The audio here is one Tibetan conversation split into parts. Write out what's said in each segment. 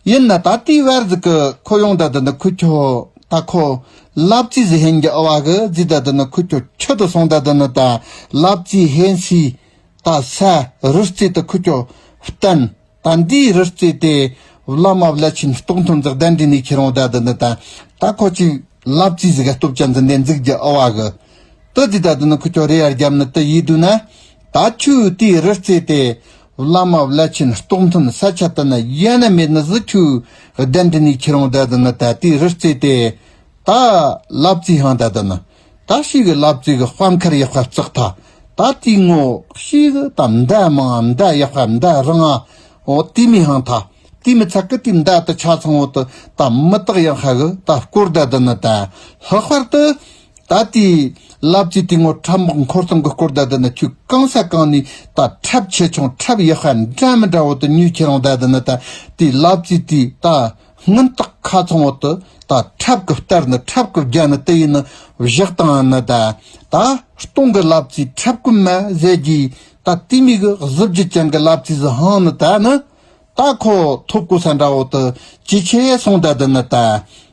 ཡིན་ན་ད་ལྟའི་བར་གཟིགས་ཀི་ཁོ་ཡོང་ད་དུ་འདི་ཁུ་ཁྱོ། ད་ཁོ། ལབ་ཙི་ཟི་ཧན་གྱི་ཨ་བ་གི་རྫི་ད་དུ་འདི་ཁུ་ཁྱོ་ཁྱོ་དུ་སོང་ད་དུ་ནི་ད་ལབ་ཙི་ཧན་སི། ད་ས་རི་རྩེ་དུ་ཁུ་ཁྱོ། བསྟན། ད་འདི་རི་རྩེ་དེ། བླ་མ་བླ་ཆེན་རྟོགས་མཐོན་འཛག་ལྡན་འདྲེ་ནས་ཁྱེད་རང་ད་དུ་ནི་ད། ད་ཁོ་ཅིག། ལབ་ཙི་ཟི་ག་སྟོབས་ཅན་འཛིན་ལྡན་རྫིག་གྱི་ཨ་བ་གི། ཏི་རྫི་ད་དུ་ནི་ཁུ་ཁྱོ་རེ་ཡར་རྒྱབ་ནི་ཏི་ཡིས་བསྡུ་ན། ད་ཁྱོའི་དེའི་རི་རྩེ་དེ། བླ་མ་བླ་ཆེན་རྟོགས་མཐུན་ས་ཆ་དུ་ནི་ཡེ་ནས་མེད་ནི་གཟི་ཁྱུའི་གདན་དྲི་ནས་ཁྱེད་རང་བདག་འདི་ནི་ད་ལྟའི་རི་རྩེ་སྟེ། ད་བླ་བཙས་ཧང་ད་དུ་ནི། ད་ཤི་གི་བླ་བཙས་གི་དཔའ་མཁར་ཡེ་དཔའ་བཙག་ཐ་ད་ལྟའི་ངོ་ཤེས་གི་ད་མདའ་མང་ཨ་མདའ་ཡེ་དཔའ་མདའ་རང་ཨ་འོ་དེ་མི་ཧང་ཐ་དེ་མི་ཚ་གི་དེ་མདའ་དུ་ཆ་ཚང་བོ་དུ་ད་མི་དག་ཡང་ཧ་གི་ད་སྐོར་ད་དུ་ནི་ད་ལྷག་པར་དུ་ད་ལྟའི་རླབས་རྩེ་སྟེང་ངོ་ཁྲབ་དམག་འཁོར་ཚང་གི་སྐོར་ཟླ་དེ་ན་ཁྱོད་རྐང་ས་གང་ནས་ད་ཁྲབ་ཆེ་ཆུང་ཁྲབ་ཡག་ཤ་འདྲ་མི་འདྲ་བོ་དེ་ཉོས་ཁྱེད་རང་ད་དེ་ན་ད་ལྟའི་རླབས་རྩེ་དེ་ད་སྔོན་རྟགས་ཁ་ཚང་བོ་དེ་ད་ཁྲབ་གི་སྟར་ནི་ཁྲབ་གི་རྒྱ་ནི་དེ་ཡིན་ནི་བཞག་དང་ནི་ད་ད་སྟོང་གི་རླབས་རྩེ་ཁྲབ་གི་མ་ཟད་རྒྱའི་ད་ལྟའི་མིག་གི་གཟི་བརྗིད་ཅན་གི་རླབས་རྩེ་ཟི་ཧང་ནི་ད་ནི་ད་ཁོ་ཐོབ་གོ་ས་འདྲ་བོ་དེ་ཇེ་ཆེ་སོང་ད་དེ་ན་ད་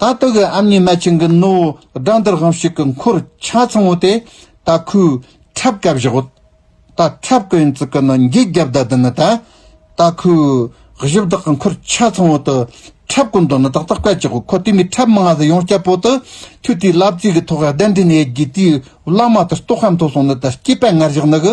ད་སྟོད་གི་ཨམ་ཉི་སྣ་ཆེན་གྱི་སྣོད་བོ་སྦྲང་དར་གང་ཞིག་གི་འཁོར་ཆ་ཚང་བོ་དེ་ད་ཁོའི་ཁྲབ་ཀ་བཞག་གོ། ད་ཁྲབ་ཀ་ཡིན་ཙི་ཀི་ནི་འགྱིག་རྒྱབ་ད་དེ་ནི་ད། ད་ཁོའི་གཞི་བདག་གི་འཁོར་ཆ་ཚང་བོ་དུ་ཁྲབ་ཀོ་མདོ་ནི་ཏག་ཏག་བཀལ་ཅིག་གོ་ཁོ་དེ་མི་ཁྲབ་མི་ང་ཟི་ཡོང་སྐྱབས་བོ་དུ་ཁྱོད་དེའི་ལབ་ཙིག་གི་ཐོག་ག་གདན་འདྲེན་ཡས་ཀྱི་དེའི་བླ་མ་དུ་སྟོ་ཁམ་ཐོ་སོང་ནི་ད་སྐྱེས་པ་ངར་བཞག་ནི་གི་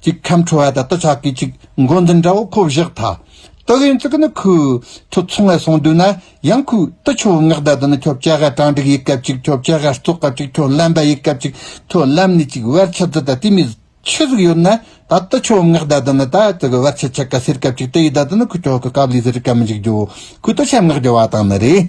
གཅིག་ཁམས་ཁྲོ་བ་དང་དུ་ཆགས་ཀྱི་ཅིག་མགོ་འཛིན་འདྲ་བོ་ཁོ་བཞག་མཐའ། དུ་གཡོན་གཙུག་ནི་ཁུ། ཐུ་ཚོང་ལ་སོང་དུས་ན་ཡང་ཁུ། དུ་ཆུ་བོ་ངག་ཟླ་དུ་ནི་ཁྱོ་བྱ་ཧ་གྲངས་དྲུག་ཡིག་སྐབས་ཅིག་ཁྱོ་བྱ་ཧ་སྟོད་སྐབས་ཅིག་ཁྱོ་ལམ་བ་ཡིག་སྐབས་ཅིག་ཁྱོ་ལམ་ནི་ཅིག་བར་ཆད་དུ་ད་ཏི་མི། ཆུ་ཟིག་ཡོད་ན་ད་དུ་ཆུ་བོ་ངག་ཟླ་དུ་ནི་ད་དུ་གི་བར་ཆད་ཆད་ཀ་སེར་སྐབས་ཅིག་དུ་ཡིག་ཟླ་དུ་ནི་ཁུ་ཁྱོ་ཁུ་སྐབས་ལུས་ཟེར་སྐབས་མི་འཇིག་རྒྱུ། ཁུ་དུ་ཆབ་ངག་རྒྱུ་བ་དང་ནི་རེ།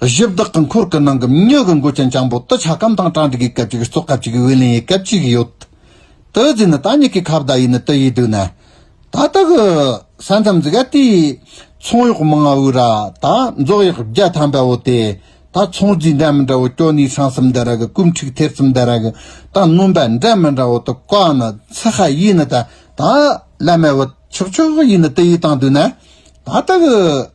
གཞི་བདག་གི་འཁོར་གྱི་ནང་གི་མྱུ་གུ་མགོ་ཅན་ལྕང་པོ་དུ་ཆ་སྐམ་དང་གྲང་དྲི་གའི་སྐབས་ཅིག་སྲོག་སྐབས་ཅིག་འོད་ལེན་ཡི་སྐབས་ཅིག་ཡོད། དུ་རྫས་ནི་ད་ཉིད་ཀྱི་ཁ་བརྡ་ཡིན་དུ་ཡིས་བསྡུས་ན། ད་ལྟ་གི་ས་མཚམས་འདི་ག་དེའི་ཚོང་གཡོག་མང་བ་བོའི་ར་ད་རྫོགས་ཡག་བརྒྱ་ཐམ་པ་བོ་དེ་ད་ཚོང་རྫས་འདྲ་མི་འདྲ་བོ་སྐྱོ་ནི་ཧྲང་སིམ་འདི་ར་གི་ཀུམ་ཁྲིག་ཐེར་ཙམ་འདི་ར་གི་ད་སྣུམ་པ་འདྲ་མི་འདྲ་བོ་དུ་ཀ་ནི་ཚི་ཧ་ཡིས་ནི་ད་ད་བླ་མ་བོ་ཆག་ཆོག་ཡིས་ནི་དུ་ཡིས་བཏང་བསྡུས་ན། ད་ལྟ་གི།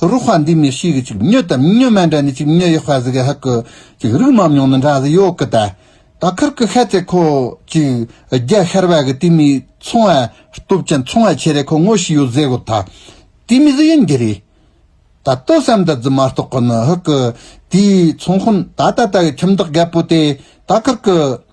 རུ་ཧྥ་འདི་མི་ཤེས་གི་ཅིག་སྨྱོ་དམ་སྨྱོ་མ་འདྲ་ནི་ཅིག་སྨྱོ་ཡི་ཧྥ་ཟི་གི་ཧ་གི་ཅིག་རིགས་མ་མྱོང་ནི་འདྲ་ཟི་ཡོག་གི་ད་ད་ཁར་གི་ཧད་ཏེ་ཁོ་ཅིག་རྒྱ་ཤར་བ་གི་དེ་མི་ཚོང་བ་སྟོབས་ཅན་ཚོང་བ་ཆེ་རེ་ཁོ་ངོ་ཤི་ཡོ་ཟེ་གོ་ད་དེ་མི་ཟི་ཡིན་གི་རེ་ད་ཏོ་བསམ་ད་ཛི་མ་རྟོག་གི་ནི་ཧི་གི་དེའི་ཚོང་ཁོ་ད་ད་ད་གི་ཁྱིམ་བདག་རྒད་པོ་དེ་ད་ཁར་གི།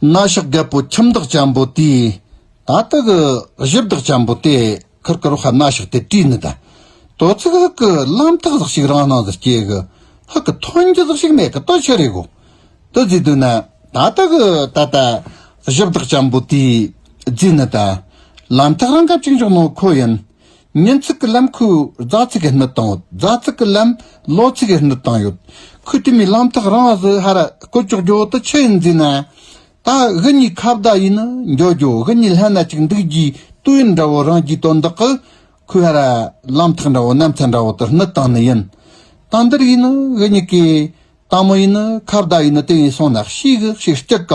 སྣ་ཞག་རྒད་པོ་ཁྱིམ་བདག་ཅན་པོ་དེས་ད་ལྟ་གི་གཞི་བདག་ཅན་པོ་དེ་ཁིར་ཀི་རོ་ཧ་སྣ་ཞག་དེ་དྲིས་ནས་ད་དོ་ཚིག་ཧིག་གི་ལམ་ཐག་ཟག་ཞིག་རང་སྣང་དུ་སྐྱེས་གི་ཧིག་གི་ཐོན་རྒྱུ་ཟག་ཞིག་མེད་གི་ལྟོ་ཆེ་རེད་གོ་དུ་རྫིས་དུས་ན་ད་ལྟ་གི་ད་ལྟ་གཞི་བདག་ཅན་པོ་དེས་རྫིས་ནས་ད་ལམ་ཐག་རང་གབ་ཅིག་འཇོག་ནོ་ཁོ་ཡིན། ཉིན་ཚིག་གི་ལམ་ཁུ་རྫ་ཚིག་གི་སྣུད་དང་ཡོད། རྫ་ཚིག་གི་ལམ་ལོ་ཚིག་གི་སྣུད་དང་ཡོད། ཁུ་དེ་མའི་ལམ་ཐག་རང་བཟོས་ཧར་བཀོད་ཅོག་རྒྱོ་དུ་ཆུ་ཡིན་རྫས་ན། ད་དབུ་གཉིས་ཁ་བརྡ་ཡིན་ནི་འགྱོ་རྒྱོ་དབུ་གཉིས་ལྷན་ན་ཅིག་འདུག་རྒྱུའི་དུས་ཡུན་འདྲ་བོ་རང་རྒྱུའི་དོན་དག་གི་ཁུ་ཧར་ལམ་ཐག་འདྲ་བོ་ནམ་ཚད་འདྲ་བོ་དུ་སྣུད་དང་ནི་ཡིན། ད་འདིར་ཡིན་ནི་དབུ་གཉིས་ཀའི་དང་མོ་ཡིན་ནི་ཁ་བརྡ་ཡིན་ནི་དེ་ཡིན་སོང་ན་ཤེས་གི་ཤེས་སྐྱི་ག།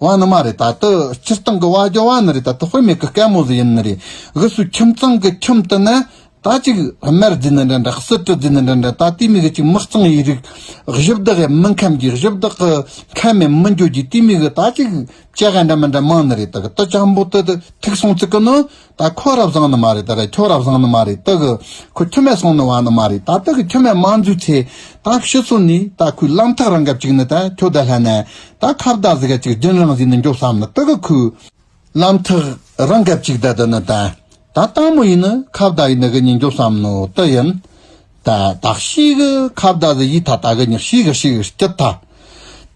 བ་ནི་མ་རེད་ད་དུ་སྤྱིར་བཏང་གི་བ་རྒྱོ་བ་ནི་རེད་ད་དུ་དཔེ་མེད་གི་སྐད་མོ་ཟི་ཡིན་ནི་རེད་གི་སུ་ཁྱིམ་ཚང་གི་ཁྱིམ་དུ་ནི་ད་ཅིག་དམར་རྫི་ནི་འདྲ་འདྲ་གསུར་དྲི་རྫི་ནི་འདྲ་འདྲ་ད་ལྟའི་མིག་གི་ཅིག་མི་གཙང་བའི་རིགས་གཞི་བདག་གི་མི་མཁན་གྱི་གཞི་བདག་གི་མཁན་མེད་མི་འགྱོ་རྒྱུའི་ལྟའི་མིག་གི་ད་ཅིག་སྐྱེ་ག་འདྲ་མི་འདྲ་མང་ནི་རེད་ད་གི་དུ་ཆམ་པོ་དུ་ཐིག་སོང་ཚིག་གི་ནི་ད་ཁོ་རབ་བཟང་ནི་མ་རེད་ད་རེད་ཁྱོ་རབ་བཟང་ནི་མ་རེད་ད་གི་ཁོ་ཁྱི་མེད་སོང་ནི་བ་ནི་མ་རེད་ད་ད་གི་ཁྱི་མེད་མ་འཛུལ་ཚེ་ད་ཤི་སོ་ནི་ད་ཁོའི་གླང་ཐག་རང་གབ་ཅིག་ནི་ད་ཁྱོ་ད་ལྷ་ན་ད་ཁ་བརྡ་ཟི་ག་ཅིག་སྦྱིན་བླངས་ཟིག་ནི་འགྱོ་བསམ་ནི་ད་གི་ཁོའི་གླང་ཐག་རང་གབ་ཅིག་ད་ད་ནི་ད་ད་སྟག་མོ་ཡིན་ནི་ཁ་བརྡ་ཡིན་ནི་གི་ནི་འགྱོ་བསམ་ནི་ད་ཡིན་ད་ད་ཤི་གི་ཁ་བརྡ་ཟི་ཡིས་ད་ད་གི་ནི་ཤི་གི་ཤི་གི་སྐྱིད་ད་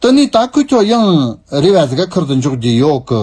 ད་ནི་ད་ཁོའི་ཁྱོ་ཡང་རེ་བ་ཟི་ག་ཁུར་དུ་འཇོག་རྒྱུ་ཡོད་གི་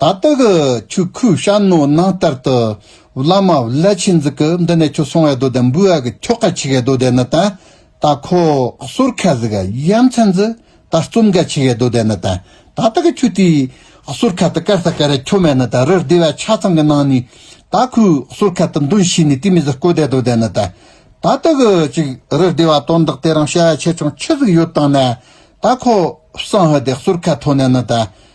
ད་ལྟག་ཆུ་ཁོའི་ཤར་ནུ་ནང་ལྟར་དུ་བླ་མ་བླ་ཆེན་འཛི་ཀི་འདི་ནས་ཁྱོད་སོང་བའི་རྡོ་དེ་འབུལ་བ་གི་ཁྱོ་ག་ཆི་གའི་རྡོ་དེ་ནི་དང་ད་ཁོ་གསོར་ཁ་ཟི་ག་ཡ་མཚན་འཛི་ད་རྩོམ་ག་ཆི་གའི་རྡོ་དེ་ནི་དང་ད་ལྟག་ཆུ་དེའི་གསོར་ཁ་དུ་ཀར་ས་ཀ་རའི་ཁྱོ་མེ་ནི་དང་རི་ཟླི་བ་ཆ་ཚང་གི་ནང་ནས་ད་ཁོའི་གསོར་ཁ་དུ་འདོན་ཤི་ནི་དེ་མི་ཟི་ཀོ་དའི་རྡོ་དེ་ནི་དང་ད་ལྟག་ཅིག་རི་ཟླི་བ་དོན་དག་དེ་རང་བྱ་བ་ཆེ་ཆུང་ཆི་ཟི་ག་ཡོད་དང་ནས་ད་ཁོ་བསང་ཧི་དེ་གསོར་ཁ་ཐོ་ནས་ནི་དང་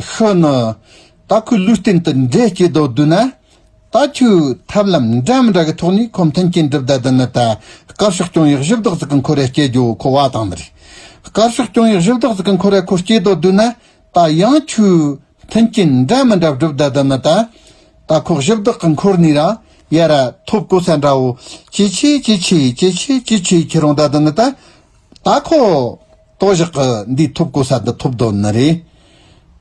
ཤོ་ནོ། ད་ཁོས་ལུས་སྟེང་དུ་འདྲེ་སྐྱེས་དོགས་བསྡུས་ན། ད་ཁྱོའི་ཐབས་ལམ་འདྲ་མི་འདྲ་གི་ཐོག་ནས་ཁོ་མཐུན་རྐྱེན་གྲུབ་བསྡད་དོན་ནི་ད་དཀར་ཕྱོགས་སྐྱོང་ཡག་གཞི་བདག་ཟིག་གི་འཁོར་རས་སྐྱེ་རྒྱུ་ཁོ་བ་དང་འདྲ། དཀར་ཕྱོགས་སྐྱོང་ཡག་གཞི་བདག་ཟིག་གི་འཁོར་རས་ཁོ་སྐྱེས་དོགས་བསྡུས་ན། ད་ཡང་ཁྱོའི་མཐུན་རྐྱེན་འདྲ་མི་འདྲ་བསྒྲུབ་བསྡད་དོན་ནི་ད། ད་ཁོ་གཞི་བདག་གི་འཁོར་ནས་རང་ཡལ་ར་ཐོབ་གོ་ས་འདྲ་བོ། ཅི་བྱས་ཅི་བྱས་ཅི་བྱས་ཅི་བྱས་ཁྱི་རང་བསྡད་དོན་ནི་ད། ད་ཁོ། ཏོག་བཞག་གི་འདིའི་ཐོབ་གོ་ས་འདི་ཐོབ་དོ་ནི་རེད།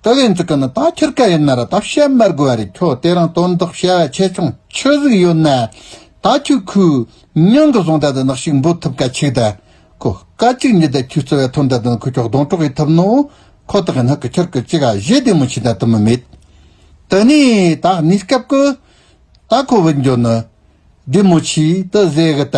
ཏི་བེན་ཙི་ཀི་ནི་ད་ཁྱེར་ཀ་ཡིན་ན་ར་ད་བཤད་མར་དགོས་བ་རེད་ཁྱོ་དེ་རང་དོན་དག་བཤད་བ་ཆེ་ཆུང་ཆུ་གཟིག་ཡོད་ན་ད་ཁྱོ་ཁུ་ཉང་གི་བཟུང་ད་ད་ནག་ཤིག་འབོད་ཐུབ་ཀ་ཆིག་ད་ཁོ་ཀ་ཅིག་ཉིད་ད་ཁྱོས་བརྩི་བ་ཐུབ་ད་ད་ནི་ཁོ་ཁྱོ་གདོང་གྲོག་ཡི་ཐུབ་ནོ་ཁོ་ཐག་གི་ནག་གི་ཁྱར་གི་ཅི་ག་བཞི་བདེ་མོ་ཆིག་ད་ཐུབ་མི་མེད་ཏི་ནི་ད་ནིས་སྐབས་ཀི་ད་ཁོ་བུད་འགྱོ་ནི་བདེ་མོ་ཆིག་ཏི་བཟེ་གི་ད།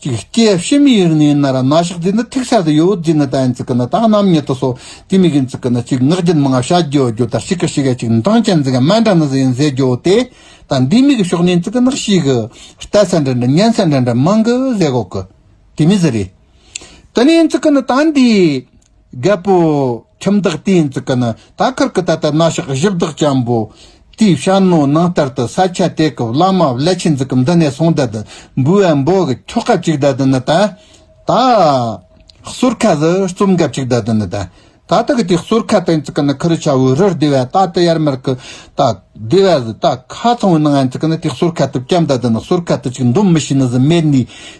ཀྱི་སྐད་བཤད་མི་ཡིག་ནི་ན་ར་ན་ཞག་དེ་ནི་ཐིག་ཤ་དེ་ཡོད་དེ་ནི་ད་ཡིན་ཚིག་གི་ནི་ད་རྣམ་ཉིད་དུ་སོ་དེ་མི་གིན་ཚིག་གི་ནི་ཅིག་ངག་རྒྱུན་མི་ངག་བྱ་རྒྱུ་རྒྱུ་དང་ཞིག་གི་ཞིག་ག་ཅིག་འབྲང་ཅན་འཛིན་གི་མན་འདྲ་ནི་ཟི་ཡིན་ཟེ་རྒྱུ་དེ་ད་འདི་མིག་གི་ཕྱོགས་ནས་ཚིག་གི་ནག་ཞིག་གི་ལྟ་ས་འདྲ་འདྲ་ཉན་ས་འདྲ་འདྲ་མང་གི་ཟེ་གོག་གི་དེ་མི་ཟི་རེད་དེ་ནི་ཡིན་ཚིག་གི་ནི་ད་འདི། རྒད་པོ། ཁྱིམ་བདག་དེའི་འཛུགས་ཀ་ནི་ད་ཁར་གི་ད་ལྟ་གནའ་ཤག་བཞི་བདག་ཅམ་པོ། དེའི་བྱ་རྣོ་ནང་ལྟར་དུ་ས་ཆ་དེ་གི་བླ་མ་བླ་ཆེན་འཛུགས་ཀ་འདི་ནས་སོང་ད་དུ་འབུལ་བ་འབོ་གི་ཁྱོ་ག་གཅིག་ད་དུ་ནི་ད། ད། གསོར་ཁ་ཟི་རྩོམ་ག་གཅིག་ད་དུ་ནི་ད། ད་ལྟ་གི་དེའི་གསོར་ཁ་དེ་འཛུགས་ཀ་ནི་ཁུ་རུ་ཆ་བོའི་རུར་སྡེ་བ་ད་ཏི་ཡར་མར་གི་ད། སྡེ་བ་ཟི་ད་ཁ་ཚང་བའི་ནང་ཨ་འཛུགས་ཀ་ནི་དེའི་གསོར་ཁ་དུ་བཅམ་ད་དུ་ནི་གསོར་ཁ་དུ་ཅིག་འདོམ་མི་ཤེས་ནི་ཟི་མེད་ནི།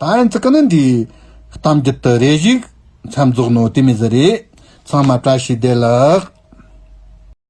ད་ཡིན་ཚིག་ནི་འདིའི། གཏམ་རྒྱུད་དུ་རེ་ཞིག། མཚམས་རྫོགས་ནོ་དེ་མི་ཟེར་རེ། ཚང་མ་བཀྲ་ཤིས་བདེ་ལགས།